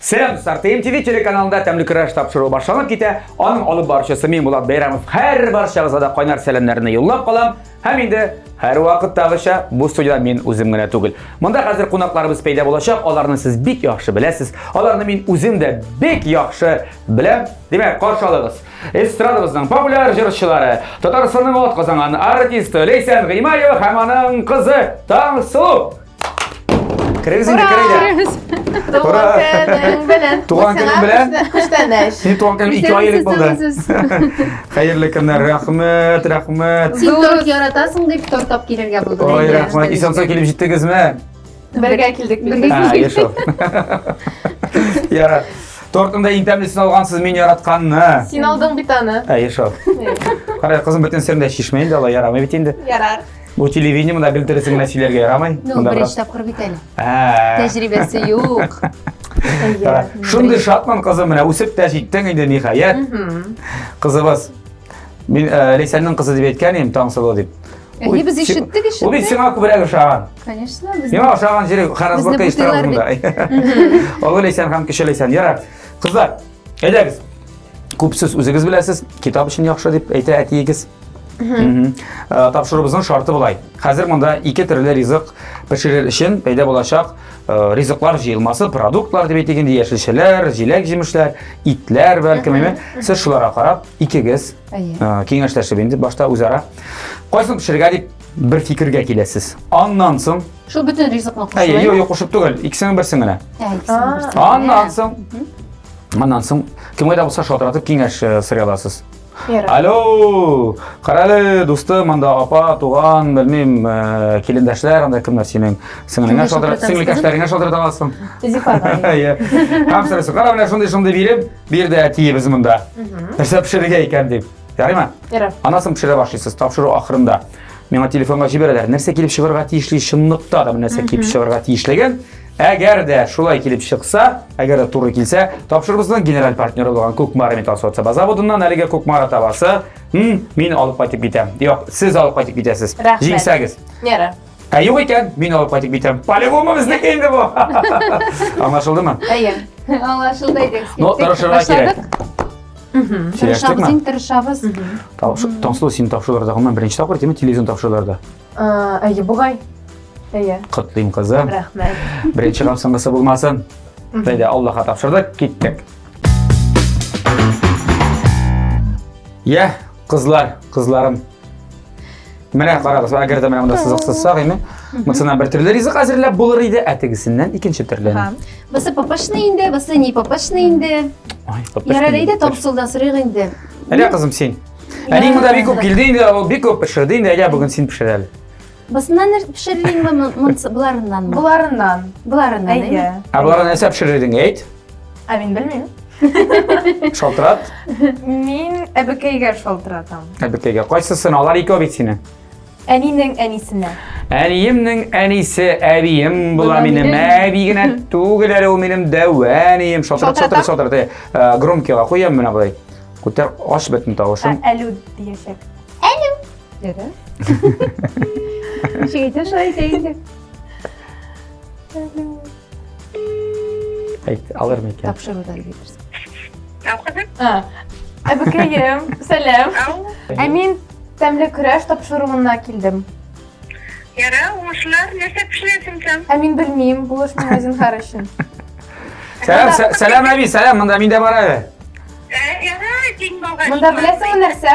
Сәлам дуслар! ТМТВ телеканалында тәмле көрәш тапшыруы башланып китә. Аның алып баручысы мин Булат Бәйрәмов. Һәр барчагызга да кайнар сәламнәрне юллап калам. Һәм инде һәр вакыттагыча бу студида мин үзем генә түгел. Монда хәзер кунакларыбыз пәйда булачак. Аларны сез бик яхшы беләсез. Аларны мин үзем дә бик яхшы беләм. Димәк, каршы алыгыз. Эстрадабызның популяр җырчылары, Татарстанның атказанган артисты Ләйсән Гыймаева һәм аның кызы Таңсылу. Керегез инде, керегез. Туган көнең белән. Туган көнең белән. Күчтәнәч. Син туган көнең ике ай элек булды. Хәерле көннәр, рәхмәт, рәхмәт. Син торт яратасың дип торт тап килергә булдым. Ой, рәхмәт. Исән-сау килеп җиттегезме? Бергә килдек. Бергә килдек. Яра. Тортында иң тәмлесен алгансыз мин яратканны. Син алдың бит аны. Әйе шул. Кара, кызым бөтен серне чишмәйин дә алай ярамый бит инде. Ярар. Бу телевидение монда белдересең генә сөйләргә ярамый. Ну, беренче тапкыр бит әле. Тәҗрибәсе юк. Шундый шатман кызым менә үсеп тә җиттең инде ниһаять. Кызыбыз. Мин э, Ләйсәннең кызы дип әйткән идем, Таңсылу дип. Әйе, без ишеттек, ишеттек. Ул бит сиңа күбрәк ошаган. Конечно, без. Миңа ошаган җире Харазбургка ишетәм монда. Олы Ләйсән һәм кече Ләйсән. Ярар. Кызлар, Әйдәгез. Күп сүз үзегез беләсез, китап өчен яхшы дип әйтә әтиегез. Э, тапшыруыбызның шарты болай. Хәзер монда ике төрле ризык пешерер өчен пәйдә булачак э, ризыклар җыелмасы, продуктлар дип әйтегенде, яшелчәләр, җиләк-җимешләр, итләр бәлкем, әйме. Сез шуларга карап, икегез э, киңәшләшеп инде башта үзара кайсын пешерергә дип бер фикергә киләсез. Аннан соң Шул бөтен ризыкны кушып. Әйе, юк, кушып түгел, икесенең берсен генә. Аннан соң Аннан соң кемгә дә булса шалтыратып киңәш э, сорый аласыз. Алло, карале, дусты, монда апа, туган, белмим, э, килендәшләр, анда кемнәр синең? Сеңлеңә шалтырат, сеңлекәшләреңә шалтырат аласың. Зифага. Әйе. Һәм сорыйсың, кара менә шундый шундый биреп, бирде әтиебез монда. Нәрсә пешерергә икән дип. Ярыймы? Ярар. Анасын пешерә башлыйсыз, тапшыру ахырында. Миңа телефонга җибәрәләр. Нәрсә килеп чыгарга тиешле чынлыкта да нәрсә килеп чыгарга тиешлеген. Әгәр дә шулай килеп чыкса, әгәр дә туры килсә, тапшырыбызның генераль партнеры булган Кукмара металл соцаба заводыннан әлеге Кукмара табасы, мин алып кайтып китәм. Юк, сез алып кайтып китәсез. Җиңсәгез. Ярар. Ә юк икән, мин алып кайтып китәм. По-любому безнеке инде бу. Аңлашылдымы? Әйе. Аңлашылды иде. Ну, тырышырга кирәк. Тырышабыз, Сөйләштекме? иң тырышабыз. Тапшы- Таңсылу син тапшыруларда гомумән беренче тапкыр тиме телевизион тапшыруларда. А, Әйе, бугай. Әйе. Котлыйм кызым. Рәхмәт. Беренче һәм соңгысы булмасын. Бәйдә Аллаһка тапшырдык, киттек. Я, Кызлар, кызларым. Менә карагыз, әгәр дә менә монда сызыксызсак, име? Монсыннан бер төрле ризык әзерләп булыр иде, ә тегесеннән икенче төрле. Ага. Бысы папашны инде, бысы не папашны инде. Ай, папаш. Ярар инде, тапсылдан сорыйк инде. Әнә кызым син. Әни монда бик күп килде инде, ул бик күп пешерде инде, әйдә бүген син пешер әле. Бысыннан нәрсә пешерелиңме, монсы буларыннанмы? Буларыннан. Буларыннан, әйе. Ә буларга нәрсә пешерелиң, әйт? Ә мин белмим. Шалтырат? Мин әбекәйгә шалтыратам. Әбекәйгә. Кайсысын? Алар икәү бит сине. Әнинең әнисенә. Әниемнең әнисе әбием була минем. Әби генә түгел әле ул минем дәвә әнием. Шалтырат, шалтырат, шалтырат. Э, э, громкига куям менә болай. Күтәр, аш бетен тавышын. Ә, әлү диясәк. Ничек әйтә, шулай әйтә инде. Әйт, алыр микән? Тапшыруда әйтерсең. Ау кызым. Әбекәем, сәлам. Ау. Ә мин тәмле көрәш тапшыруына килдем. Яра, уңышлар. Нәрсә пешерәсең син? Ә мин белмим, бу эш миңа зинһар өчен. Сәлам, сә- сәлам әби, сәлам, монда мин дә бар әле. Яра, дин бага. Монда беләсеңме нәрсә?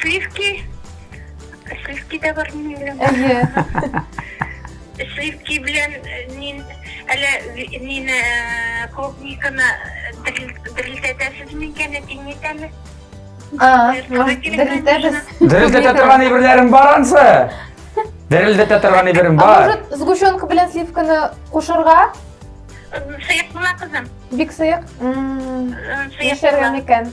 Сливки. Сливки да бар минем белән. Әйе. Сливки белән э, мин әле мине э, клубниканы дерелдәтәсез микән, әтиңнетәме? Дерелдәтәбез. Дерелдәтә торган әйберләрең бар ансы? Дерелдәтә торган әйберем бар. А может, сгущенка белән сливканы кушырга? Сыек була, кызым. Бик сыек. Сыек була микән?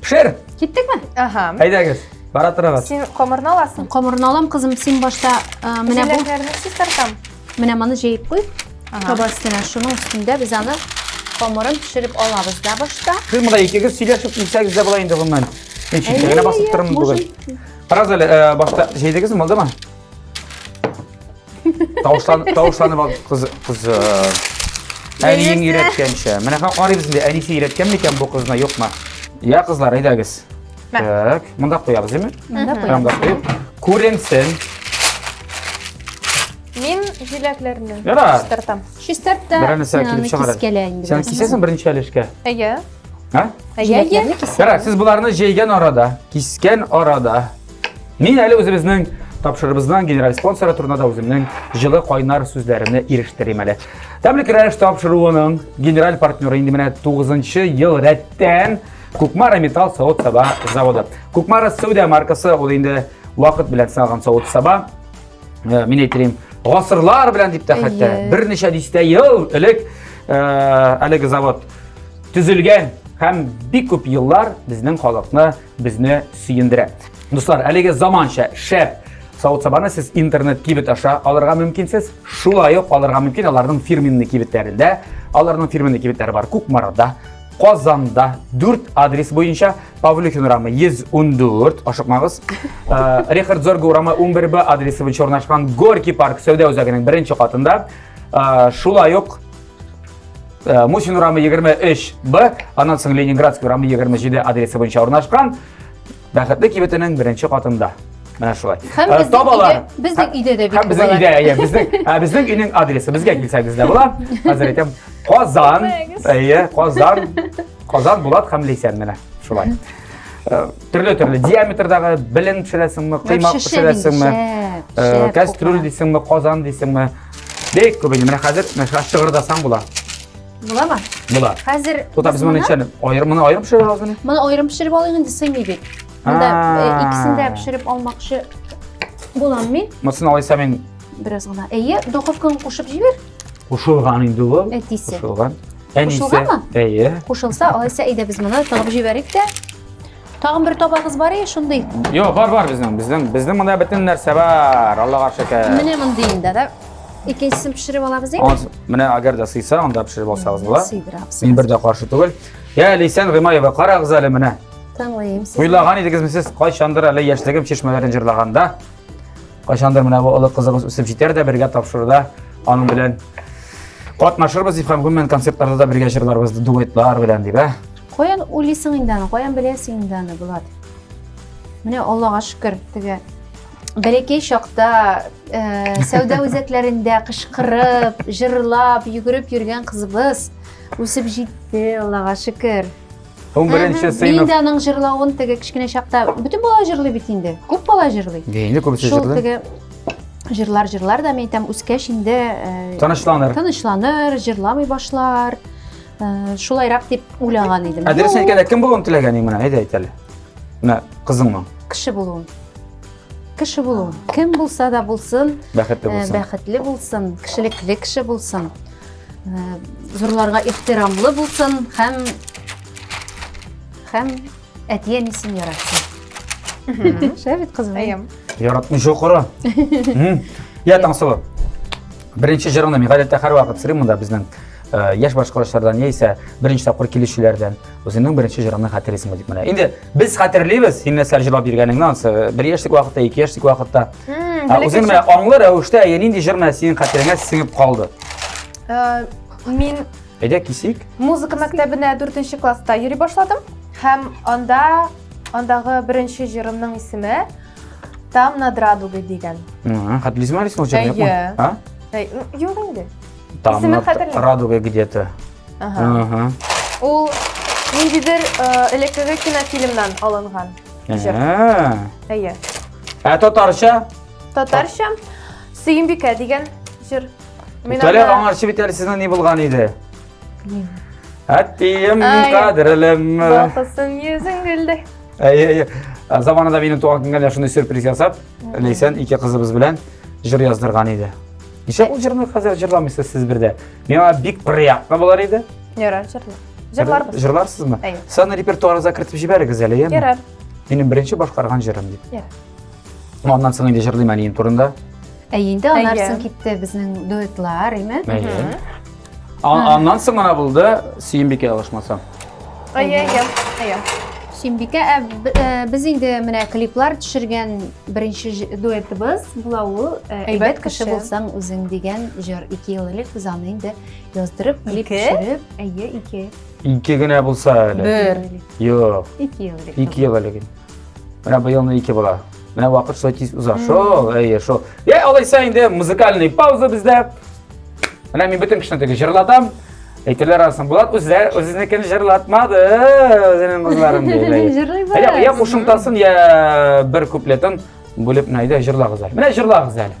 Пешер! Киттекме? Ага. Әйдәгез, бара торыгыз. Син камырны аласың. Камырны алам, кызым, син башта э, менә бу. Җиләкләрне чистартам. Менә моны җәеп куй. Каба өстенә шуның өстендә без аны камырын пешереп алабыз да башта. Сез монда икегез сөйләшеп килсәгез дә була инде гомумән. Мин читтә басып тормын бүген. Карагыз әле, э, башта җәйдегезме, булдымы? Тавышланып, тавышланып ал, кыз, кыз. э, Әниең Яисә- өйрәткәнчә. Менә ка- карыйбыз инде, әнисе өйрәткән микән бу кызны, юкмы? Я, кызлар, әйдәгез. Мә. Так, монда куябыз, димме? Монда куябыз. Рамда куеп. Күренсен. Мин җиләкләрне Яра. чистартам. Чистарт та Берәне сәл син килеп аны чыгар. кискәлә инде. Сен кисәсең беренче әлешкә. Әйе. Ха? Әйе, әйе. Җиләкләрне кис. Яра, сез боларны җәйгән арада, кискән арада, Мин әле үзебезнең тапшырыбызның генераль спонсоры турында да үземнең җылы кайнар сүзләремне ирештерим әле. Тәмлек рәш тапшыруының генераль партнеры инде менә 9 ел рәттән Кукмара металл савыт саба заводы. Кукмара Сәүдә маркасы ул инде вакыт белән сыналган савыт саба. Э, мин әйтәм, гасырлар белән дип тә хәтта берничә дистә ел элек э, әлеге завод төзелгән һәм бик күп еллар безнең халыкны безне сөендерә. Дуслар, әлеге заманча, шәп савыт сабаны сез интернет кибет аша алырга мөмкинсез. Шулай ук алырга мөмкин аларның фирменный кибетләрендә. Аларның фирменный кибетләре бар Кукмарада, Казанда 4 адрес буенча Павлюхин урамы 114, ашыкмагыз. Э, Рихард Зорга урамы 11Б адресы буенча урнашкан Горький парк сәүдә үзәгенең беренче катында. Э, шулай ук Э, Мусин урамы 23 Б, анан соң Ленинградский урамы 27 адресы буенча урнашкан. Бәхетле кибетенең беренче катында. Менә шулай. Һәм э, табалар. Безнең өйдә дә бит. Һәм безнең өйдә, әйе, безнең, ә безнең өйнең адресы безгә килсәгез дә була. Хәзер әйтәм, Казан, әйе, Казан, Казан Булат һәм Лисән менә шулай. Э, Төрле-төрле диаметрдагы белен пешерәсеңме, кыймак пешерәсеңме, кәстрүл дисеңме, казан дисеңме, Бик күп инде. Менә хәзер мәшәкать шыгырдасаң була. Буламы? Була. Хәзер Тута без моны ничәне? Аерым моны аерым пешерә алабыз мени? Моны аерым пешереп алыйк инде сыймый бит. Монда э, икесен дә пешереп алмакчы булам мин. Мосын алайса мин бераз гына. Әйе, духовканы кушып җибәр. Кушылган инде ул. Әтисе. Кушылган. Әнисе. Кушылганмы? Әйе. Кушылса, алайса әйдә без моны тыгып җибәрик тә. Тагын бер табагыз бар е, шундый? Йо, бар, бар безнең. Безнең, безнең монда бөтен нәрсә бар. Аллага шөкер. Менә мондый инде, да? Икенчесен пешереп алабыз инде. Менә әгәр дә сыйса, анда пешереп алсагыз була. Сыйдырабыз. Мин бер дә каршы түгел. Я, Лисән Гыймаева, карагыз әле менә. Тыңлыйм сезне. Уйлаган идегезме сез кайчандыр әле яшьлегем чишмәләрен җырлаганда? Кайчандыр менә бу олы кызыгыз үсеп җитәр дә бергә тапшыруда аның белән катнашырбыз дип һәм гомумән концертларда да бергә җырларбыз дуэтлар белән дип, ә? Каян уйлыйсың инде аны, каян беләсең инде аны, Булат? Менә Аллага шөкер, теге бәләкәй чакта э, сәүдә үзәкләрендә кычкырып, җырлап, йөгереп йөргән кызыбыз үсеп җитте, Аллага шөкер. Һәм беренче Мин сыйныф. дә аның җырлавын теге кечкенә чакта бөтен бала җырлый бит инде. Күп бала җырлый. Инде күбесе Шул җырлый. теге җырлар җырлар да мин әйтәм, үскәч инде э, Тынычланыр. тынычланыр, җырламый башлар. Э, шулайрак дип уйлаган идем ә дөресен әйткәндә кем булуын теләгән ең менә әйдә әйт әле менә кызыңмы кеше булуын кеше булуын кем булса да булсын бәхетле э, булсын бәхетле булсын кешелекле кеше булсын э, зурларга ихтирамлы булсын һәм һәм Әти-әнисен яратсын. Шәп бит кызым. Әйем. Яратмый шокыры. Я Таңсылу. Беренче җырыңны мин гадәттә һәрвакыт сырыйм монда безнең э, яшь башкаручылардан яисә беренче тапкыр килүчеләрдән үзеңнең беренче җырыңны хәтерлисеңме дип менә. Инде без хәтерлибез, һин нәрсә җырлап йөргәнеңне, ансы э, бер яшьлек вакытта, ике яшьлек вакытта. Ә үзең менә аңлы рәвештә әйе нинди җыр менә синең хәтереңә сеңеп калды? Э, мин Әйдә кисик. Музыка мәктәбенә дүртенче класста йөри башладым һәм анда андагы беренче җырымның исеме Там над радугой дигән. Хәтлизмә рисмал җыры юкмы? Юк инде. Там над радугой где-то. Ага. Ул ниндидер элеккеге кинофильмнан алынган. Әйе. Ә татарча? Татарча Сөембикә дигән җыр. Үтәлә аңар чебет әле сезнең ни булган иде? Әттием кадерлем. Балтасын йөзең гөлдәй. Әйе, әйе. Заманында минем туган көнгә шундый сюрприз ясап, Ләйсән ике кызыбыз белән җыр яздырган иде. Ничә ул җырны хәзер җырламыйсыз сез бердә? Миңа бик приятно булар иде. Ярар, җырла. Җырларбыз. Җырларсызмы? Әйе. Саны репертуарыгызга кертеп җибәрегез әле, яме? Ярар. Минем беренче башкарган җырым дип. Ярар. Аннан соң инде җырлыйм әнием турында. Әй инде аннан соң китте безнең дуэтлар, име? Әйе. Аннан соң гына булды Сөембикә алышмаса. Әйе, әйе, әйе. Сөембикә, ә, ә, без инде менә клиплар төшергән беренче дуэтыбыз була ул ә, Әйбәт кеше булсаң үзең дигән җыр. Ике ел элек без аны инде яздырып, клип Ике? төшереп, әйе, ике. Ике генә булса әле. Бер. Юк. Ике ел элек. Ике ел элек. Менә быелны ике бала. Менә вакыт шулай тиз уза. Шул, әйе, шул. Йә, алайса инде музыкальный пауза бездә. Менә мин бөтен кешене теге җырлатам. Әйтерләр арасында Булат үзе үзенекен җырлатмады, үзенең кызларын диде. Җырлыйбыз. Йә, йә кушымтасын, йә бер куплетын бүлеп менә әйдә җырлагыз әле. Менә җырлагыз әле.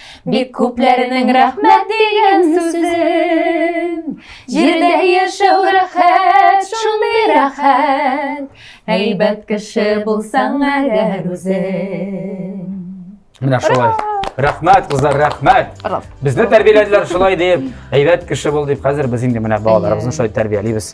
Бик күпләренең рәхмәт дигән сүзен Җирдә яшәү рәхәт, шундый рәхәт Әйбәт кеше булсаң әгәр үзең Менә шулай. Рәхмәт, кызлар, рәхмәт. Безне тәрбияләделәр шулай дип, әйбәт кеше бул дип. Хәзер без инде менә балаларыбызны шулай тәрбиялибез.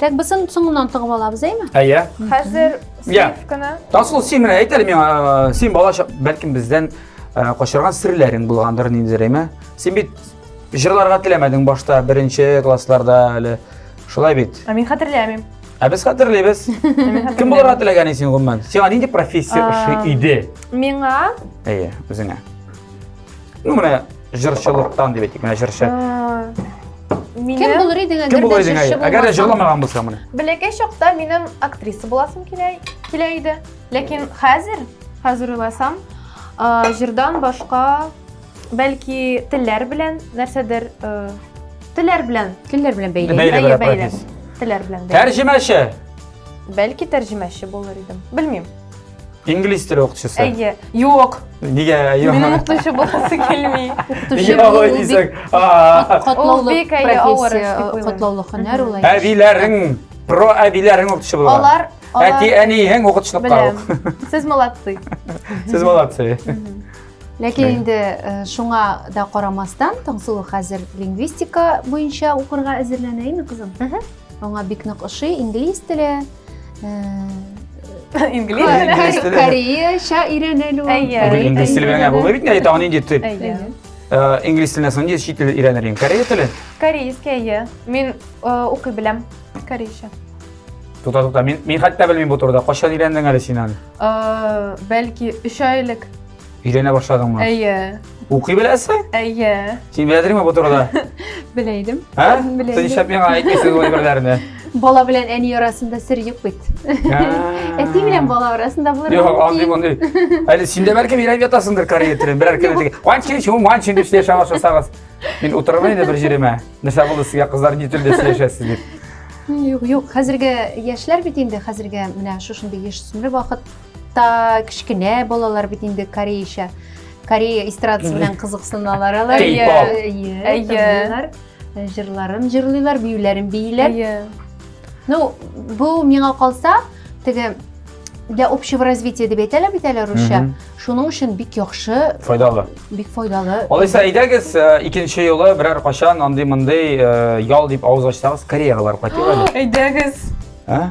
Так, без аны соңыннан тыгып алабыз, әйме? Әйе. Хәзер сыйф кына. Тасыл, син менә әйт әле миңа, э, син бала бәлкем бездән э, качырган серләрең булгандыр ниндидер, әйме? Син бит җырларга теләмәдең башта, беренче классларда әле. Шулай бит. Ә мин хәтерләмим. Ә без хәтерлибез. Кем булырга теләгән син гомумән? Сиңа нинди профессия ошый иде? Миңа? Әйе, үзеңә. Ну, менә җырчылыктан дип әйтик, менә җырчы. Кем булыр идең әгәр Кем булыр идең әгәр? Әгәр дә җырламаган булса менә. Бәләкәй чакта минем актриса буласым килә килә иде. Ләкин хәзер, хәзер уйласам, җырдан башка бәлки телләр белән нәрсәдер телләр белән, телләр белән бәйле. Бәйле, бәйле. Телләр белән бәйле. Тәрҗемәче. Бәлки тәрҗемәче булыр идем. Белмим. Инглиз теле укытучысы. Әйе. Юк. Нигә юк? Минем укытучы буласы килми. Укытучы булу бик катлаулы профессия, катлаулы һөнәр ул. Әбиләрең, про әбиләрең укытучы булган. Алар Әти, әниең укытучылыкка ук. Сез молодцы. Сез молодцы. Ләкин инде шуңа да карамастан, Таңсылу хәзер лингвистика буенча укырга әзерләнә, әйме, кызым? Аңа бик нык ошый, инглиз теле, Инглиз теле. Кореяча өйрәнелү. Әйе. Инглиз теле белән булмый бит инде, тагын инде тип. Әйе. Инглиз теленә соң инде чит тел өйрәнер идем. Корея теле? Корейский, әйе. Мин укый беләм корейча. Тута, тута. Мин, мин хәтта белмим бу турыда. Кайчан өйрәндең әле син аны? Бәлки 3 ай элек. Өйләнә башладыңмы? Әйе. Укый беләсең? Әйе. Син белә идеңме бу турыда? Белә идем. Ә? Белә Сез идем. нишләп миңа әйтмисез бу әйберләрне? Бала белән әни арасында сер юк бит. Әти белән бала арасында булыр. Юк, андый мондый. Әле син дә бәлки бирәм ятасыңдыр Корея телен. Берәр кем диге. Ван чин шу, ван чин дип яшәп ашасагыз. Мин утырырмын инде бер җиремә. Нәрсә булды сезгә кызлар ни телдә сөйләшәсез дип. Юк, юк, хәзерге яшьләр бит инде хәзерге менә шушындый яшь сүмер вакыт Та кечкенә балалар бит инде кореяча, корея эстрадасы белән кызыксыналар алар. Кей-поп. Әйе, Әйе. тыңлыйлар, э, җырларын җырлыйлар, биюләрен бииләр. Әйе. Ну, бу миңа калса, теге для общего развития дип әйтәләр бит әле русча. Мгм. Шуның өчен бик яхшы, Файдалы. бик файдалы. Алайса, әйдәгез, э, икенче юлы берәр качан андый-мондый э, ял дип авыз ачсагыз, Кореяга барып кайтыйк әле. Әйдәгез. Ә?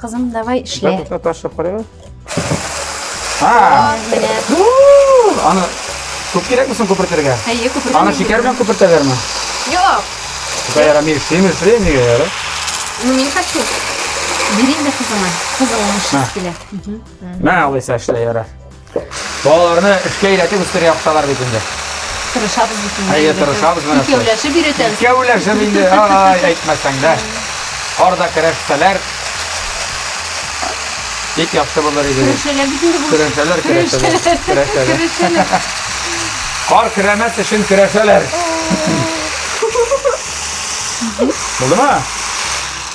Кызым, давай эшлә. Бер ташлап карыйбыз. А, менә. Аны күп кирәкме соң күпертергә? Әйе, күпертергә. Аны шикәр белән күпертәләрме? Юк. Шикәр ярамый, симез, симез яра. Ну, мин хочу. Бирим дә кызыма. Кызым аны эшләп килә. Мә, алайса эшлә яра. Балаларны эшкә өйрәтеп үстерә яхшылар бит инде. Тырышабыз бит инде. Әйе, тырышабыз менә. Икәүләшеп өйрәтәбез. Икәүләшеп инде, ай, әйтмәсәң дә. Карда көрәшсәләр, бик яхшы булыр иде. Көрәшәләр бит инде бу. Көрәшәләр, көрәшәләр. Көрәшәләр. Көрәшәләр. Кар көрәмәс өчен көрәшәләр. Булдымы?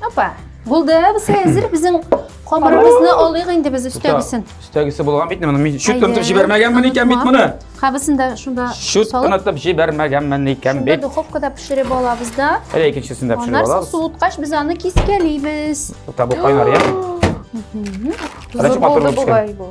Опа, булды, без әзер безнең камырыбызны алыйк инде без өстәгесен. Өстәгесе булган бит моны. Мин чүт тонтып җибәрмәгәнмен икән бит моны. Кабысын да шунда чүт тонтып җибәрмәгәнмен икән бит. Шунда духовкада пешереп алабыз да. Әле икенчесен дә пешереп алабыз. Аннары суыткач без аны кискәлибез. Табу кайнар, я? Зур булды бугай бу.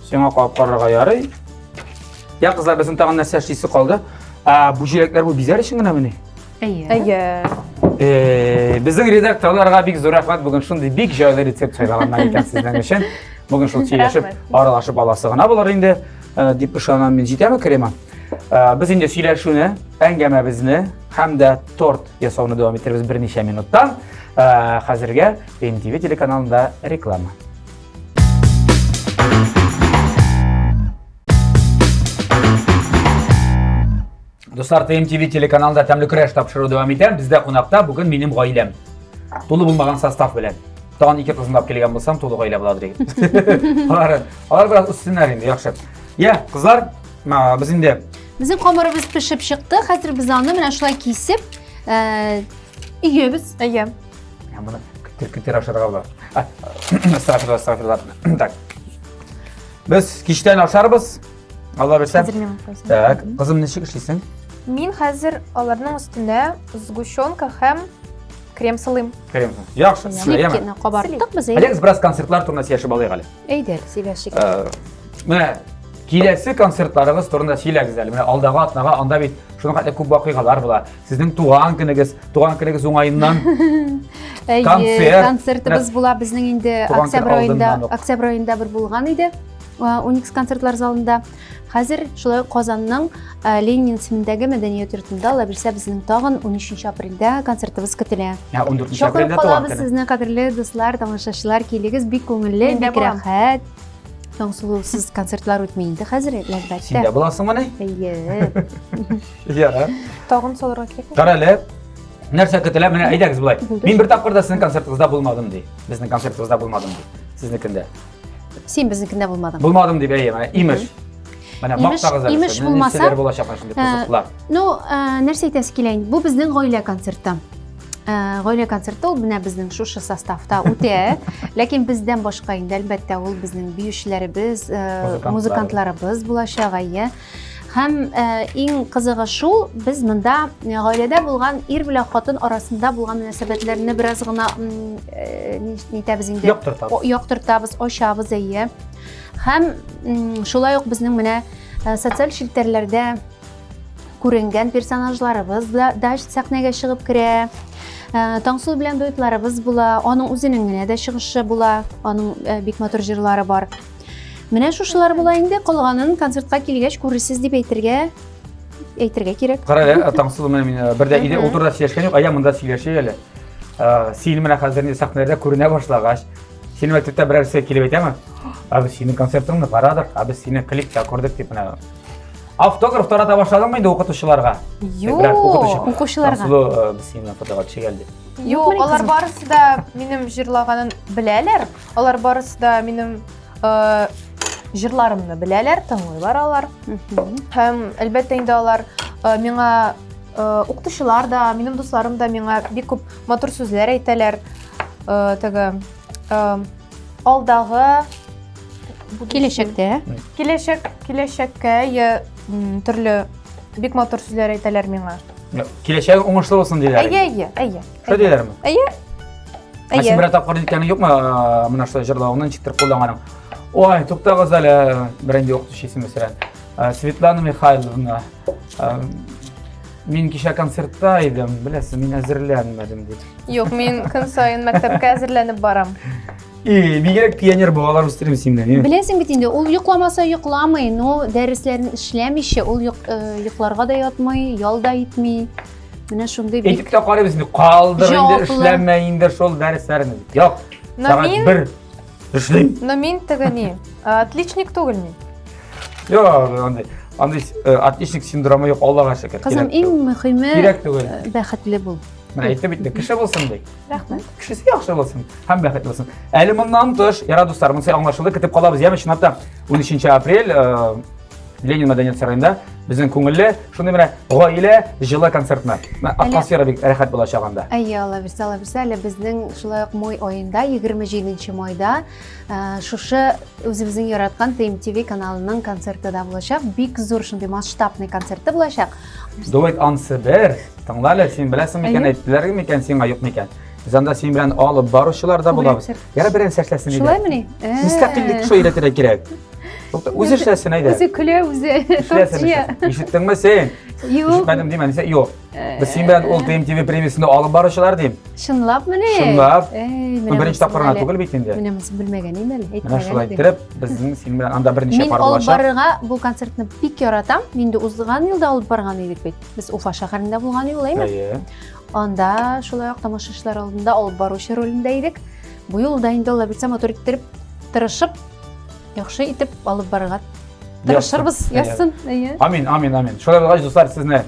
Сиңа калып карарга ярый. Я, кызлар, безнең тагын нәрсә эшлисе калды. А, бу җиләкләр бу бизәр өчен генә мени? Әйе. Әйе. Э, безнең редакторларга бик зур рәхмәт бүген шундый бик җайлы рецепт сайлаганнар икән сезнең өчен. Бүген шул сөйләшеп, аралашып аласы гына булыр инде, э, дип ышанам мин. Җитәме крема? Э, без инде сөйләшүне, әңгәмәбезне һәм дә торт ясауны дәвам иттеребез берничә минуттан. Хәзергә NTV телеканалында реклама. Дуслар, ТМТВ телеканалында тәмле көрәш тапшыру дәвам итә. Бездә кунакта бүген минем гаиләм. Тулы булмаган состав белән. Тагын ике кызын алып килгән булсам, тулы гаилә була диген. Алар, алар бераз үссеннәр инде, яхшы. Я, кызлар, без инде Безнең камырыбыз пешеп чыкты. Хәзер без аны менә шулай кисеп, э, өйебез. Әйе. Ә моны көтер көтер ашарга була. Астафирла, астафирла. Так. Без киштән ашарбыз. Алла берсә. Так, кызым ничек эшлисең? Мин хәзер аларның өстенә сгущенка һәм крем сылыйм. Крем. Яхшы, сылыйм. Сливкины кабарттык без. Әйдәгез бераз концертлар турында сөйләшеп алыйк әле. Әйдәгез, сөйләшик. Э, менә киләсе концертларыгыз турында сөйләгез әле. Менә алдагы атнага анда бит шуның хәтле күп вакыйгалар була. Сезнең туган көнегез, туган көнегез уңаеннан концерт. Концертыбыз була безнең инде октябрь аенда, октябрь аенда бер булган иде. Уникс концертлар залында. Хәзер шулай Казанның Ленин исемендәге мәдәният йортында ала бирсә безнең тагын 13 апрельдә концертыбыз көтелә. 14 апрельдә туган көнегез. Сезне кадерле дуслар, тамашачылар, килегез, бик күңелле, бик рәхәт. Таңсылусыз концертлар үтмей инде хәзер, әлбәттә. Син дә буласыңмыни? Әйе. Иә. Тагын салырга кирәк. Карале. Нәрсә көтелә? Менә әйдәгез болай. Мин бер тапкыр да сезнең концертыгызда булмадым ди. Безнең концертыбызда булмадым ди. Сезнекендә. Син безнекендә булмадың. Булмадым дип әйе, менә имеш. Менә мактагыз әле. Имеш булмаса. Нәрсәләр булачак шундый э, кызыклар. Ну, э, нәрсә әйтәсе килә инде? Бу безнең гаилә концерты. Э, гаилә концерты ул менә безнең шушы составта үтә. Ләкин бездән башка инде әлбәттә ул безнең биючеләребез, э, музыкантларыбыз булачак, әйе. Һәм э, иң кызыгы шул, без монда э, гаиләдә булган ир белән хатын арасында булган мөнәсәбәтләрне бераз гына э, нитәбез инде? Яктыртабыз. Яктыртабыз, ачабыз, әйе. Һәм шулай ук безнең менә социаль челтәрләрдә күренгән персонажларыбыз да, да сәхнәгә чыгып керә. Таңсу белән дуэтларыбыз була, аның үзенең генә дә чыгышы була, аның бик матур җырлары бар. Менә шушылар була инде, калганын концертка килгәч күрерсез дип әйтергә әйтергә кирәк. Кара әле, ә, Таңсыз менә мин ә, бердә иде, ул турыда сөйләшкән юк, ә я монда сөйләшә әле. Ә, Син менә хәзер инде сәхнәләрдә күренә башлагач, синең мәктәптә берәрсе килеп әйтәме? Ә без синең концертыңны карадык, ә без сине клипта күрдек дип менә. Автограф тарата башладыңмы инде укытучыларга? Юк, Берәр укытучы. укучыларга. Таңсылу, ә, без синең фотога төшә гел дип. Юк, алар барысы да минем җырлаганын беләләр. Алар барысы да минем э, җырларымны беләләр, тыңлыйлар алар. Һәм әлбәттә инде алар э, миңа э, укытучылар да, минем дусларым да миңа бик күп матур сүзләр әйтәләр. Э, теге э, алдагы киләчәктә киләчәк киләчәккә я төрле бик матур сүзләр әйтәләр миңа. Киләчәге уңышлы булсын диләр. Әйе, әйе, әйе. Шо диләрме? Әйе. Әйе. Син берәр тапкыр әйткәнең юкмы менә шулай җырлавыңны ничектер кулланганың? Ой, туктагыз әле, беренде юк төшесен мәсәлән. Светлана Михайловна, мин кичә концертта идем, беләсез, мин әзерләнмәдем дип. Юк, мин көн саен мәктәпкә әзерләнеп барам. И, бигрәк пионер балалар үстерим сине. Беләсең бит инде, ул йокламаса йокламый, но дәресләрен эшләмичә, ул йокларга да ятмый, ял да итми. Менә шундый бик... Әйтеп тә карыйбыз, калдыр инде, эшләмә инде шул дәресләрне. Юк, сәгать бер эшлим. Но мин теге ни, отличник түгел мин. Юк, андый, андый э, отличник синдромы юк, Аллага шөкер. Кызым, иң мөхиме, кирәк түгел. Э, бәхетле бул. Менә әйтеп бит, кеше булсын ди. Рәхмәт. Кешесе яхшы булсын һәм бәхетле булсын. Әле моннан тыш, яра дуслар, монысы аңлашылды, көтеп калабыз. Яме чынлап та 13 апрель э, Ленин мәдәният сараенда безнең күңелле шундый менә гаилә җылы концертны. Атмосфера бик рәхәт булачак анда. Әйе, алла бирсә, алла бирсә, әле безнең шулай ук май аенда, 27 майда э, шушы үзебезнең яраткан ТМТВ каналының концерты да булачак. Бик зур шундый масштабный концерты булачак. Дуэт Ансыбер, тыңлале, син беләсең микән, әйттеләр микән сиңа, юк микән? Без анда син белән алып баручылар да булабыз. Яра берән сәшләсен иде. Шулаймыни? Мөстәкыйльлек шулай өйрәтергә кирәк. Үзе эшләсен әйдә. Үзе көлә, үзе тортия. Ишеттеңме син? Юк. Ишетмәдем димә, дисә, юк. Без син белән ул ТМТВ премиясендә алып баручылар дим. Чынлапмыни? Чынлап. Бу беренче тапкырына түгел бит инде. Менә без белмәгән идем әле, әйтмәгән. Менә шулай итеп, безнең син белән анда берничә пар булачак. Мин алып барырга бу концертны бик яратам. Инде узган елда алып барган идек бит. Без Уфа шәһәрендә булган юлы, әйме? Әйе. Анда шулай ук тамашачылар алдында алып баручы ролендә идек. Бу юлда инде алла бирсә матур иттереп, тырышып, яхшы итеп алып барырга тырышырбыз. Язсын. Амин, амин, амин. Шулай булгач, дуслар, сезне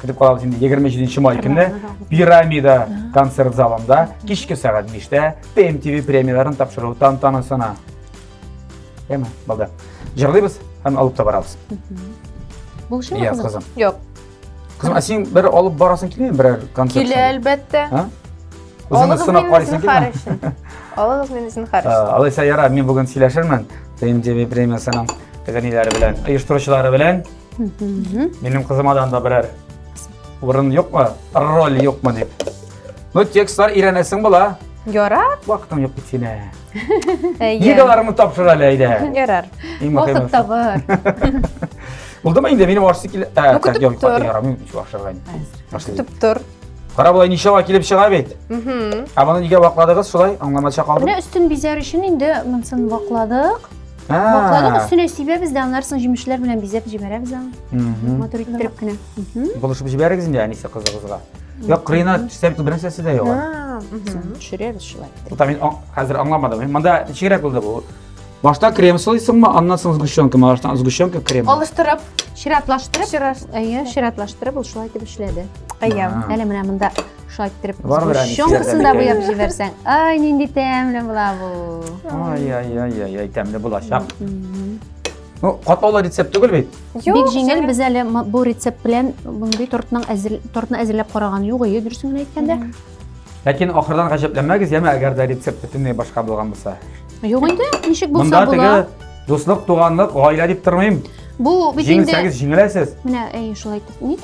күтеп калабыз инде 27 май көнне пирамида концерт залында кичке сәгать 5-тә PMTV премияләрен тапшыру тантанасына. Яме, балда. Җырлыйбыз һәм алып та барабыз. Булышымы? Яз кызым. Юк. Кызым, ә син бер алып барасың килмейме берәр концерт? Килә, әлбәттә. Ә? Үзеңне сынап карыйсың килмейме? Алыгыз мине зинхар өчен. Ә, алайса яра, мин бүген сөйләшермен ТМТВ премиясының тәгәниләре белән, оештыручылары белән. Минем кызымадан да берәр урын юкмы, роль юкмы дип. Ну, текстлар өйрәнәсең була. Яра. Вакытың юк бит синең. Егаларымны тапшыр әле әйдә. Ярар. Вакыт табар. Булдымы инде минем ашсы килә. Ә, так, юк, яра, мин ич ашырга инде. Көтеп тор. Кара болай ничава килеп чыга бит. Ә моны нигә вакладыгыз шулай? Аңламача калдым. Менә өстен бизәр өчен инде монсын вакладык. Вакладык өстенә сибәбез дә, аннан соң җимешләр белән бизәп җибәрәбез аны. Матур иттереп кенә. Булышып җибәрегез инде әнисе кызыгызга. Юк, кырыена төшсәм бернәрсә нәрсәсе дә юк. Төшерәбез шулай. Бу мин хәзер аңламадым. Монда ничегрәк булды бу? Башта крем сылыйсыңмы, аннан соң сгущенка, баштан сгущенка крем. Алыштырып, чиратлаштырып, чират, әйе, чиратлаштырып ул шулай итеп эшләде. Әйе. Әле менә монда шулай итеп сгущенкасын да буяп җибәрсәң. Ай, нинди тәмле була бу. Ай, ай, ай, ай, тәмле булачак. Ну, катлаулы рецепт түгел бит. Бик җиңел, без әле бу рецепт белән мондый тортның әзер тортны әзерләп караган юк, ие дөресен генә әйткәндә. Ләкин ахырдан гаҗәпләнмәгез, яме әгәр дә рецепт бөтенләй башка булган булса. Юк инде, ничек булса була. Монда теге дуслык, туганлык, гаилә дип тормыйм. Бу бит инде Җиңелсәгез җиңеләсез. Менә әй шулай итеп.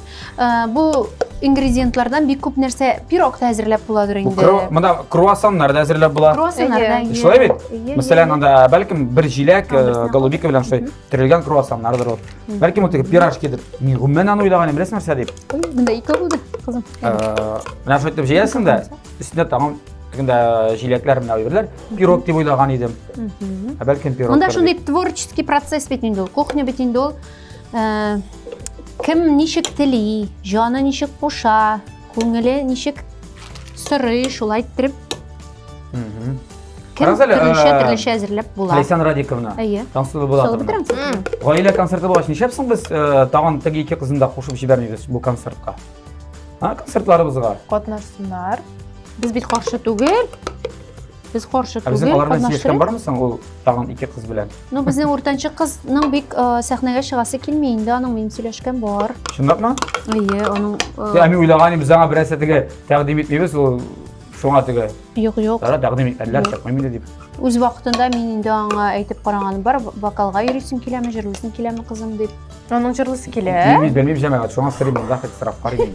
Бу ингредиентлардан бик күп нәрсә пирог та әзерләп буладыр инде. Монда круассаннар да әзерләп була. Круассаннар да. Шулай бит? Мәсәлән, анда бәлкем бер җиләк, голубика белән шулай төрелгән круассаннардыр ул. Бәлкем ул теге пирожкидер. Мин гомумән аны уйлаган, беләсең нәрсә дип? Монда ике булды, кызым. Менә шулай итеп җыясың да, өстенә тагын кында җиләкләр менә әйберләр пирог дип уйлаган идем ә бәлкем пирог монда шундый творческий процесс бит инде ул кухня бит инде ул Э, кем ничек тели, җаны ничек куша, күңеле ничек сорый, шулай иттереп. Кем Карагыз әле, төрлечә э, төрлечә әзерләп була. Ләйсән Радиковна. Әйе. Тансылу була. Салып бетерәм. Гаилә концерты булгач, нишләпсең без э, тагын теге ике кызны да кушып җибәрмибез бу концертка? А, концертларыбызга. Катнашсыннар. Без бит каршы түгел. Без каршы түгел. Безнең аларны сөйләшкән бармы соң ул тагын ике кыз белән? Ну, безнең уртанчы кызның бик э, сәхнәгә чыгасы килми инде, аның минем сөйләшкән бар. Чынлапмы? Әйе, аның э, Әми уйлаган идем, заңа берәр сәтеге тәкъдим итмибез, ул шуңа теге. Юк, юк. Тара тәкъдим итләр чакмыйм инде дип. Үз вакытында мин инде аңа әйтеп караганым бар, вокалга йөрисең киләме, җырлыйсың киләме, кызым дип. Аның җырлысы килә. Мин белмим җәмәгать, шуңа сорыйм, монда хәтта сорап карыйм.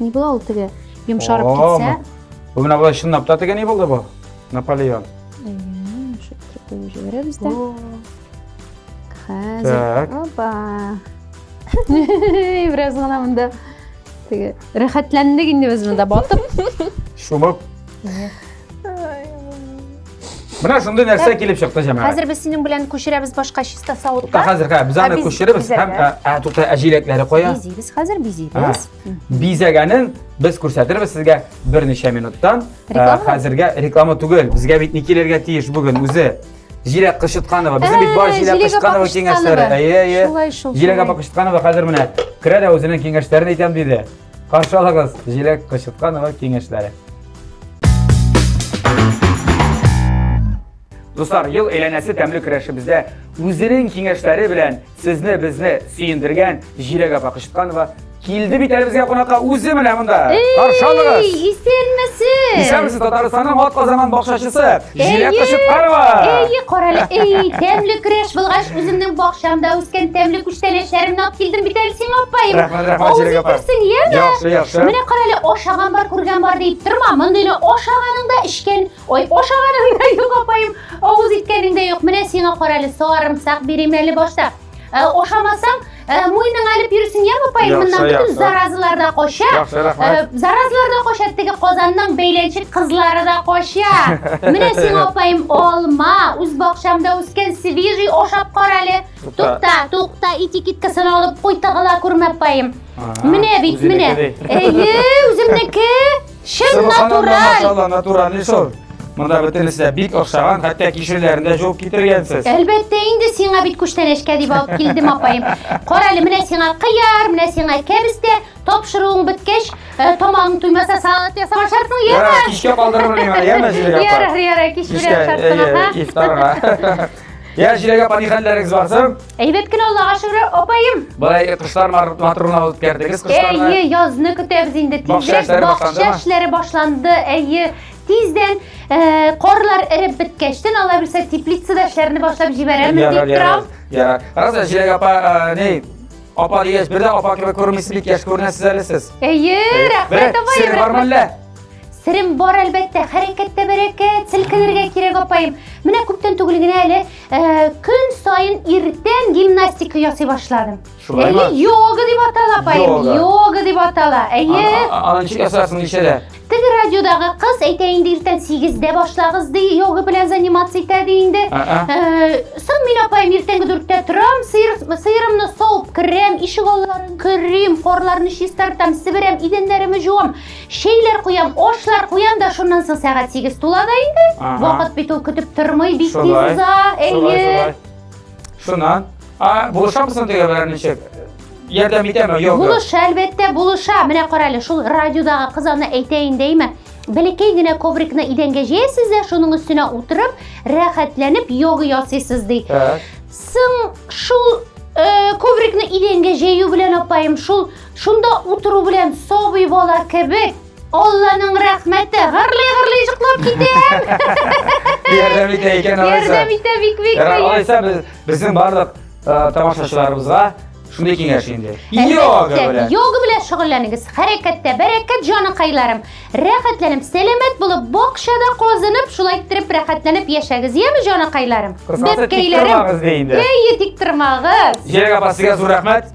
Ни була ул теге йомшарып О, китсә? Бу менә болай чынлап та теге ни булды бу? Наполеон. Әйе, шуп кертеп җибәрәбез дә. Хәзер. Опа. Бераз гына монда теге рәхәтләндек инде без монда батып. Шумып. Менә шундый нәрсә килеп чыкты, җәмәгать. Хәзер без синең белән күчерәбез башка чиста савытка. Тукта, хәзер хә, без аны күчерәбез һәм ә тукта әҗиләкләре куя. Бизибез хәзер, бизибез. Бизәгәнен без күрсәтербез сезгә берничә минуттан. Хәзергә реклама түгел, безгә бит ни килергә тиеш бүген үзе. Җиләк Кышытканова. Безнең бит бар Җиләк Кышытканова киңәшләре. Әйе, әйе. Җиләк апа Кышытканова хәзер менә керә дә үзенең киңәшләрен әйтәм диде. Каршы алыгыз Җиләк Кычытканова киңәшләре. Дуслар, ел әйләнәсе тәмле көрәшебездә үзенең киңәшләре белән сезне безне сөендергән Җиләк апа Кычытканова килде бит әле безгә кунакка үзе менә монда. Каршы алыгыз. Исәнмесез. Исәнмесез Татарстанның атказанган бакчачысы. Җиләк кышып карва! Әйе, карале, әй, тәмле креш булгач, үземнең бакчамда үскән тәмле күчтәнәчләремне алып килдем бит әле сиңа, апаем. Рәхмәт, рәхмәт, Җиләк апа. Күрсен, яме? Яхшы, яхшы. Менә карале, ашаган бар, күргән бар дип торма. Мондыйны ашаганың да эчкән. Ой, ашаганың да юк, апаем. Авыз иткәнең дә юк. Менә сиңа карале, сарымсак бирим әле башта. Э, ошамасаң э, муеның алып йөрсең я апай моннан бөтен заразалар да кача яхшы рәхмәт э, заразалар да кача теге казанның бәйләнчек кызлары да кача менә сиңа апаем алма үз бакчамда үскән свежий ашап кара әле тукта тукта этикеткасын алып куй тагыла күрмә апаем менә бит менә әйе үземнеке Чын натураль! Машалла, натуральный шул. Монда бөтенесе дә бик охшаган, хәтта кишерләрендә җуып китергәнсез. Әлбәттә, инде сиңа бит күчтәнәчкә дип алып килдем, апаем. Кара әле, менә сиңа кыяр, менә сиңа кәбестә, тапшыруың беткәч, э, тамагың туймаса салат ясап ашарсың, яме. Кичкә калдырырмын мин, яме җиләк. Ярар, ярар, кич белән ашарсың, аха. Ифтарга. Я җиләгә пани хәлләрегез бар соң? Әйбәт кенә Аллага шөкер, апаем. Болай кошлар матурлана үткәрдегез кошларны. Әйе, язны көтәбез инде. Тизрәк бакча эшләре башланды. Әйе, тиздән э, корлар эреп беткәчтен ала белсә теплицада эшләрне башлап җибәрәбез дип торам. Ярар. Раза җиләгә апа, э, ни? Апа дигәч, бер дә апа кебек күрмисез, бик яшь күренәсез әле сез. Әйе, рәхмәт апаем. Сер бар мәллә? Серем бар әлбәттә, хәрәкәттә бәрәкәт, селкенергә кирәк апаем. Менә күптән түгел генә әле э, көн сайын иртән гимнастика ясый башладым. Шулаймы? Әйе, йога дип атала апаем, Йога. йога дип атала. Әйе. Аны ничек ясарсың ничәдә? Теге радиодагы кыз әйтә инде иртән 8-дә башлагыз ди, йога белән заниматься итә ди инде. Ага. Э, Соң мин апаем иртәнге 4-тә торам, сыер, сыерымны савып керәм, ишек алларын керим, карларны чистартам, себерәм, идәннәремне жуам. Чәйләр куям, ашлар куям да шуннан соң сәгать 8 тула да инде. Вакыт бит ул көтеп тормый, бик тиз уза. Әйе. Шуннан. А, булышамсың диге белән ничек? Ярдәм итәме, юк? Булыша, әлбәттә, булыша. Менә карале, шул радиодагы кыз аны әйтә инде, әйме? Бәләкәй генә коврикны идәнгә җәясез дә, шуның өстенә утырып, рәхәтләнеп йога ясыйсыз ди. Соң шул э, коврикны идәнгә җәю белән апаем, шул Шунда утыру белән сабый бала кебек Алланың рәхмәте гырлый-гырлый җыклап китә. Ярдәм итә икән алайса. Ярдәм итә бик бик. Алайса безнең барлык тамашачыларыбызга шундый киңәш инде. Йога белән. Йога белән шөгыльләнегез. Хәрәкәттә бәрәкәт җаныкайларым. Рәхәтләнеп, сәламәт булып, бакчада казынып, шулай иттереп рәхәтләнеп яшәгез, яме җаныкайларым. Бәпкәйләрем. Әйе, тик тормагыз. Җирәк апа, сезгә зур рәхмәт.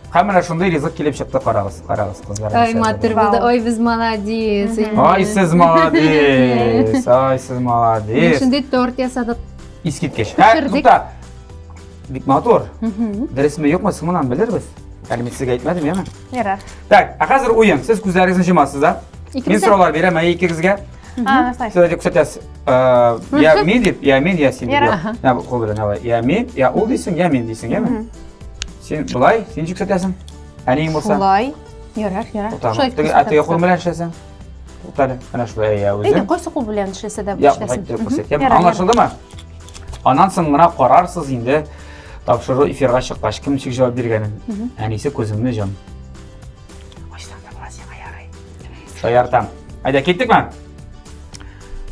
Һәм менә шундый ризык килеп чыкты, карагыз, карагыз, кызлар. Ай, матур булды. Ай, без молодец. Ай, сез молодец. Ай, сез молодец. Шундый торт ясадык. Искиткеч. Һә, тута. Бик матур. Дөресме, юкмы, сымынан белербез. Әле мин сезгә әйтмәдем, яме? Ярар. Так, а хәзер уен. Сез күзләрегезне җомасыз да? Мин сораулар бирәм, ә икегезгә. Сез әйтеп күрсәтәсез. Я мин дип, я мин, я син дип. Я кул белән, давай. Я мин, я ул дисең, я мин дисең, яме? Син былай, син ничек кертәсең? Әниең булса. Шулай. Ярар, ярар. Шулай. Теге әтеге кул белән эшләсәң. Утале, менә шулай я үзем. Әйдә, кайсы кул белән эшләсә дә эшләсен. Я, күрсәтәм. Аңлашылдымы? Аннан соң гына карарсыз инде тапшыру эфирга чыккач кем ничек җавап биргәнен. Әнисе күзеңне җом. Ачтан да сиңа ярый. Шаяртам. Әйдә, киттекме?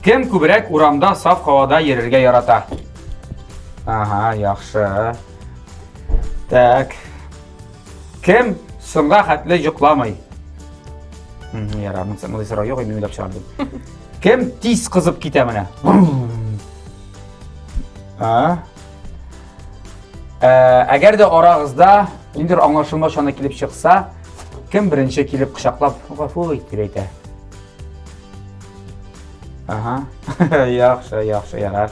Кем күбрәк урамда саф һавада йөрергә ярата? Ага, яхшы. Так. Кем соңга хәтле йокламый? Яра, мин сәңгәле сорау юк, мин уйлап чыгардым. Кем тиз кызып китә менә? А? Әгәр дә арагызда ниндер аңлашылма чаны килеп чыкса, кем беренче килеп кочаклап гафу ит дип әйтә? Ага. Яхшы, яхшы, ярар.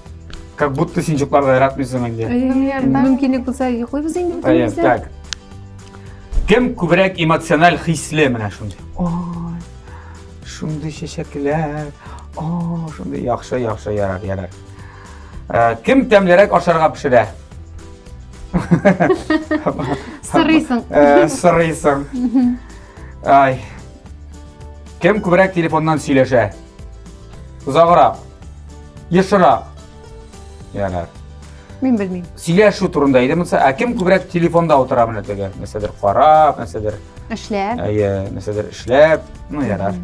Как будто син чукларда яратмыйсың инде. Мөмкинлек булса йоклыйбыз инде бөтенебез дә. Так. Кем күбрәк эмоциональ хисле менә шундый. Ой. Шундый чәчәкләр. О, шундый яхшы, яхшы, ярар, ярар. Э, кем тәмлерәк ашарга пешерә? Сырыйсың. Э, сырыйсың. Ай. Кем күбрәк телефоннан сөйләшә? Озаграк. Ешрак. Ярар. Мин белмим. Сөйләшү турында иде монысы. Ә кем күбрәк телефонда утыра менә теге? Нәрсәдер карап, нәрсәдер. Эшләп. Әйе, нәрсәдер эшләп. Ну, ярар.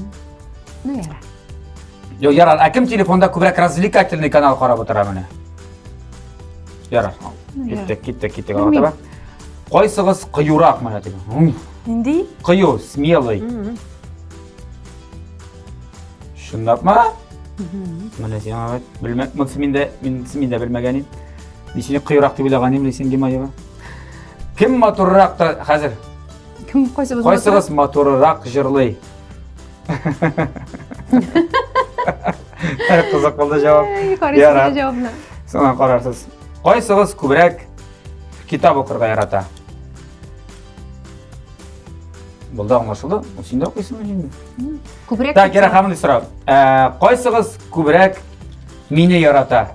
Ну, ярар. Йо, ярар. Ә кем телефонда күбрәк развлекательный канал карап утыра менә? Ярар. Киттек, киттек, киттек. Аңлатаба. Кайсыгыз кыюрак менә теге? Нинди? Кыю, смелый. Шундап ма? Менә син аңа белмәк, монсы мин дә, мин мин дә белмәгән идем. Мин сине кыюрак дип уйлаган идем, Лисин Гимаева. Кем матуррак та хәзер? Кем кайсыбыз? Кайсыбыз матуррак җырлый? Кызык булды җавап. Карыйсыз җавапны. Соңа карарсыз. Кайсыгыз күбрәк китап укырга ярата? Булды аңлашылды. Син дә укыйсыңмы инде? Күбрәк. Так, Гера ханым сорау. Ә, кайсыгыз күбрәк мине ярата?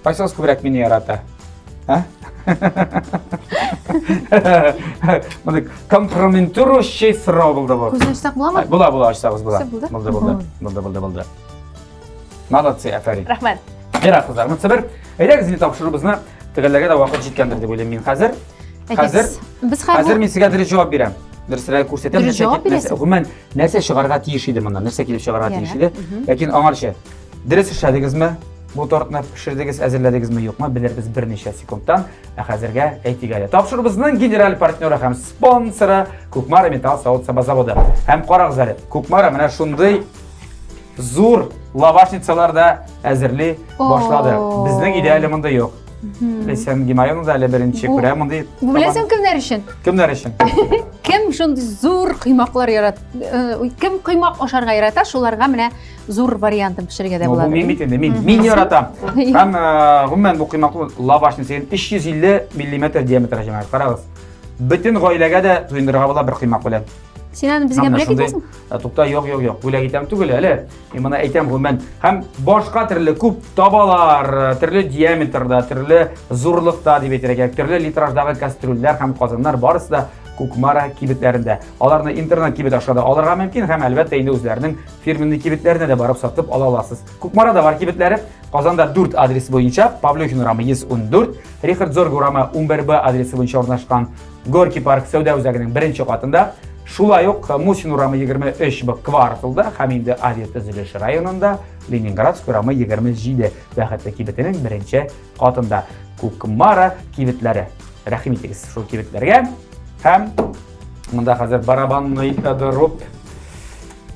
Кайсыгыз күбрәк мине ярата? А? Моны компрометирующий сорау булды бу. Күзен ачсак буламы? Була, була, ачсагыз була. Булды, булды, булды. Булды, булды, булды. Молодцы, әфәрин. Рәхмәт. Мира кызлар, монысы бер. Әйдәгез зил тапшыруыбызны төгәлләргә дә вакыт җиткәндер дип уйлыйм мин хәзер. Хәзер без хәзер мин сезгә дөрес җавап бирәм. Дөресрәк күрсәтәм. Дөрес җавап бирәсез. Гомумән, нәрсә чыгарга тиеш иде моннан? Нәрсә килеп чыгарга тиеш иде? Ләкин аңарча дөрес эшләдегезме? Бу тортны пешердегез, әзерләдегезме, юкмы, белербез берничә секундтан. Ә хәзергә әйтик әле. Тапшыруыбызның генераль партнеры һәм спонсоры Кукмара металл савыт саба заводы. Һәм карагыз әле, Кукмара менә шундый Зур лавашницалар да әзерли башлады. Безнең өйдә әле монда юк. Лесен Гимайон да әле беренче күрә мондый. Бу беләсең кемнәр өчен? Кемнәр өчен? Кем шундый зур кыймаклар ярат? Э, кем кыймак ашарга ярата, шуларга менә зур вариантын пешерергә дә була. Бу мин бит инде, мин мин яратам. Һәм э, гомумән бу кыймакны лавашны сен 350 мм диаметр җәмәгать. Карагыз. Бөтен гаиләгә дә туендырырга була бер кыймак белән. Син аны безгә бүләк итәсең? Ә тукта, юк, юк, юк, бүләк итәм түгел әле. Мин моны әйтәм гомумән. Һәм башка төрле күп табалар, төрле диаметрда, төрле зурлыкта дип әйтергә, төрле литраждагы кастрюльләр һәм казаннар барысы да Кукмара кибетләрендә. Аларны интернет кибет аша да алырга мөмкин һәм әлбәттә инде үзләренең фирменный кибетләренә дә барып сатып ала аласыз. Кукмарада бар кибетләре Казанда 4 адрес буенча Павлюхин урамы 114, Рихард Зорг урамы 11Б адресы буенча урнашкан Горький парк сәүдә үзәгенең беренче катында Шулай ук Мусин урамы 23 б кварталда һәм инде Азия төзелеше районында Ленинградск урамы 27 бәхетле кибетенең беренче катында Кукмара кибетләре. Рәхим итегез шул кибетләргә һәм монда хәзер барабанный дырып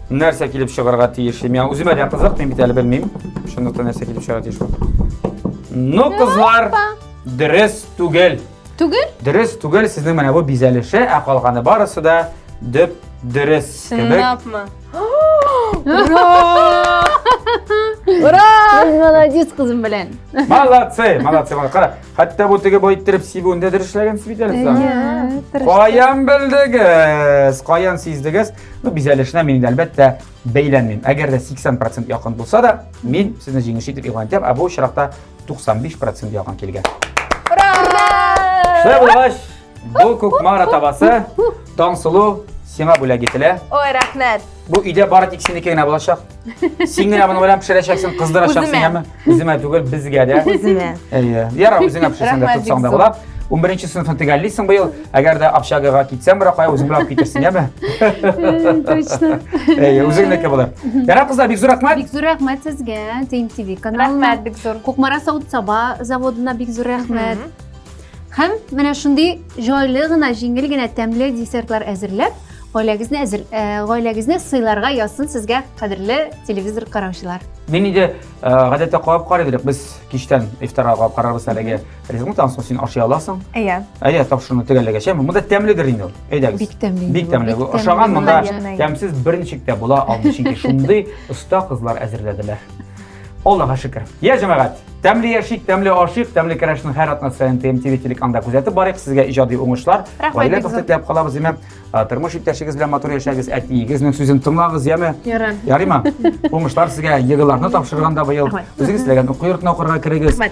нәрсә килеп чыгарга тиеш? Миңа үземә дә кызык, мин бит әле белмим. Шунда нәрсә килеп чыгарга тиеш? Ну, кызлар, дөрес түгел. Түгел? Дөрес, түгел, сезнең менә бу бизәлеше, ә калганы барысы да дөп дөрес кебек. Чынлапмы? Ура! Ура! Без молодец кызым белән. Молодцы, молодцы, молодцы. Кара, хәтта бу теге бу иттереп сибүендә дөрес эшләгән сибит әле сез. Әйе, тырыш. Каян белдегез? Каян сиздегез? Ну, бизәлешенә мин инде әлбәттә бәйләнмим. Әгәр дә 80% якын булса да, мин сезне җиңүче итеп игълан итәм, ә бу очракта 95 процент яуган килгән. Шулай булгач, бу күк мара табасы Таңсылу сиңа бүләк ителә. Ой, рәхмәт. Бу өйдә бары тик синеке генә булачак. Син генә моны белән пешерәчәксең, кыздырачаксың, яме? Үземә түгел, безгә дә. Үземә. Әйе. Ярар, үзеңә пешерсәң дә тотсаң да була. 11 сыйныфны төгәллисең быел. Әгәр дә общагага китсәң, Ракая, үзең белән алып китерсең, яме? Точно. Әйе, үзеңнеке булыр. Ярар, кызлар, бик зур рәхмәт. Бик зур рәхмәт сезгә, Тим ТВ каналына. Рәхмәт бик зур. Кукмара савыт саба заводына бик зур рәхмәт. Һәм менә шундый җайлы гына, җиңел генә тәмле десертлар әзерләп, гаиләгезне әзер, э, гаиләгезне сыйларга язсын сезгә, кадерле телевизор караучылар. Мин инде э, гадәттә кабап карый идек, без кичтән ифтарга кабап карарбыз әлеге. Ризыгың тансын, син ашый аласың. Әйе. Әйе, тапшыруны төгәлләгәч, әмма монда тәмледер инде ул. Әйдәгез. Бик тәмле. Бик тәмле. Бик Ашаган тәмле. монда Наверное. тәмсез бер ничек тә була алмый, чөнки шундый оста кызлар әзерләделәр. Аллага шөкер. Я җәмәгать, тәмле яшик, тәмле ашыйк, тәмле керәшнең һәр атна саен ТМТВ телеканда күзәтеп барыйк. Сезгә иҗади уңышлар. Рәхмәт, Гаилә бик зур. тәхтә теләп калабыз, яме. А, Тормыш иптәшегез белән матур яшәгез, әтиегезнең сүзен тыңлагыз, яме. Ярар. Ярыймы? Уңышлар сезгә, егыларны тапшырганда быел. Рәхмәт. Үзегез теләгән уку йортына укырга керегез. Рәхмәт.